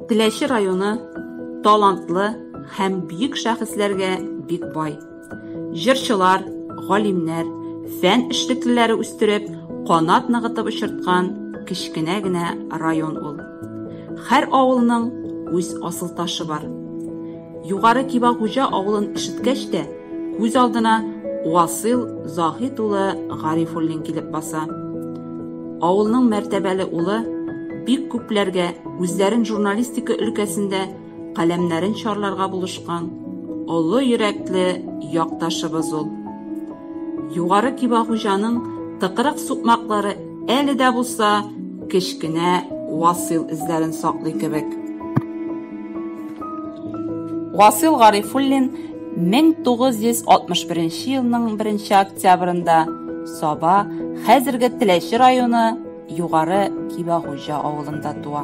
Теләче районы талантлы һәм бөек шәхесләргә бик бай. Җырчылар, галимнәр, фән эшлеклеләре үстереп, канат ныгытып очырткан кечкенә генә район ул. Һәр авылның үз асыл ташы бар. Югары Кибагуҗа авылын ишеткәч тә, күз алдына Васил Заһит улы Гарифуллин килеп баса. Авылның мәртәбәле улы бик күпләргә үзләрен журналистика өлкәсендә каләмнәрен чарларга булышкан олы йөрәкле якташыбыз ул. Югары Кибагуҗаның тыкрык сукмаклары Әле дә булса, кечкенә Васил эзләрен саклый кебек. Васил Гарифуллин 1961 елның 1 октябрында Саба, хәзерге Теләче районы Югары Кибәгуҗа авылында туа.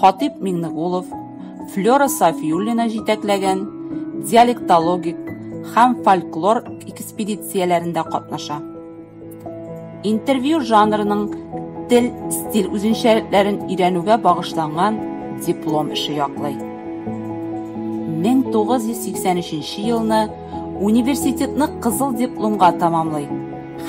Хатип Миңнегулов, Флера Сафиуллина җитәкләгән диалектологик һәм фольклор экспедицияләрендә катнаша. Интервью жанрының тел, стиль үзенчәлекләрен өйрәнүгә багышланган диплом эше яклый. 1983 елны университетны кызыл дипломга тәмамлый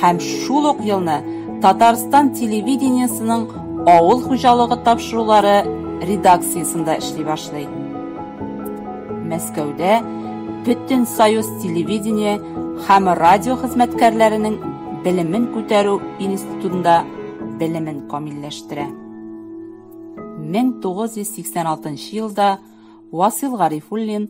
һәм шул ук елны Татарстан телевидениесенең авыл хуҗалыгы тапшырулары редакциясендә эшли башлый. Мәскәүдә Бөтен союз телевидение һәм радио хезмәткәрләренең белемен күтәрү институтында белемен камилләштерә. 1986 елда Васил Гарифуллин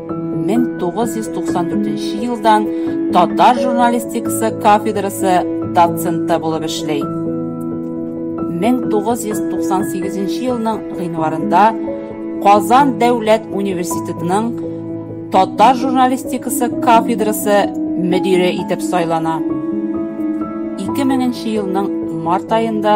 1994 елдан татар журналистикасы кафедрасы доценты булып эшли. 1998 елның гыйнварында Казан дәүләт университетының татар журналистикасы кафедрасы мөдире итеп сайлана. 2000 елның март аенда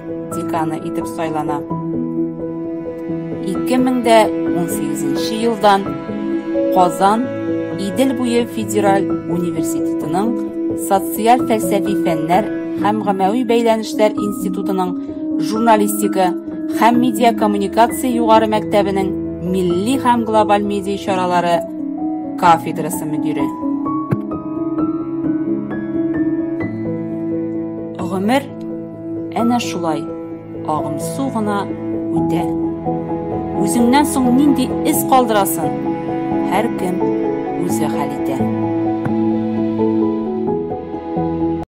деканы итеп сайлана. 2018 елдан Казан Идел буе федераль университетының социаль фәлсәфи фәннәр һәм гамәви бәйләнешләр институтының журналистика һәм медиа коммуникация югары мәктәбенең милли һәм глобаль медиа чаралары кафедрасы мөдире. Гомер Әнә шулай агымсу гына үтә. Үзеңнән соң нинди эз калдырасын, һәркем үзе хәл итә.